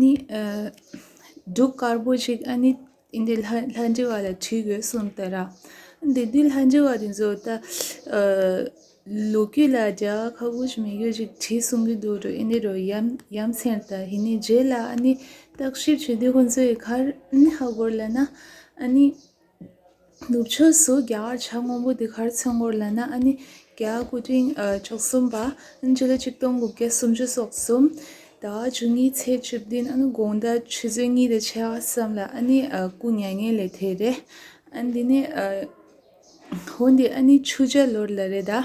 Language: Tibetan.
ནི། གདུགས་དཀར་པོ་ཞིག་ནི་འདི་ལྷ་འདྲེ་བ་ལ་འཁྲིད་དགོས་གསུངས་ལྟར་ར། འདི་དུས་ལྷ་འདྲེ་བ་དེ་ཚོ་ད། ལོ་རྒྱུས་ལ་རྒྱ་ཁ་བོ་ཞིག་མི་དགོས་ཞིག་བྲིས་གསུངས་གི་འདུག་འགྲོ་ཨེ་འདི་རུ་ཡ་མཚན་ལྟ་དེ་ནས་རྗེས་ལ་ནི། བརྟག་ཞིབ་བྱས་དུས་ཁོང་ཚོའི་ཁར་ཧ་གོ་ལ་ན། ནི། ནུབ་ཕྱོགས་སུ་རྒྱ་གར་བྱ་སྔོན་པོ་འདི་གར་ཚོན་སྐོར་ལ་ན་ཨ་ནི་རྒྱ་སྐུ་དྲིན་མཆོག་གསུམ་པདྨ་ཆོས་ལ་གཅིག་སྟོང་དགུ་བརྒྱ་སུམ་ཅུ་སོགས་གསུམ། ཟླ་བ་བཅུ་གཉིས་ཚེས་བཅུ་བདུན་ཨ་ནི་དགོངས་བརྡ་ཆུ་ཚོད་གཉིས་དང་ཕྱེད་ཀ་ཙམ་ལ་ཨ་ནི་སྐུ་མྱ་ངན་ལས་ཐེག་རེད། ཨ་ནི་འདི་ནི། འོ་འདི་ཨ་ནི་ཆུ་བྱ་ལོར་ལ་རེད་ད།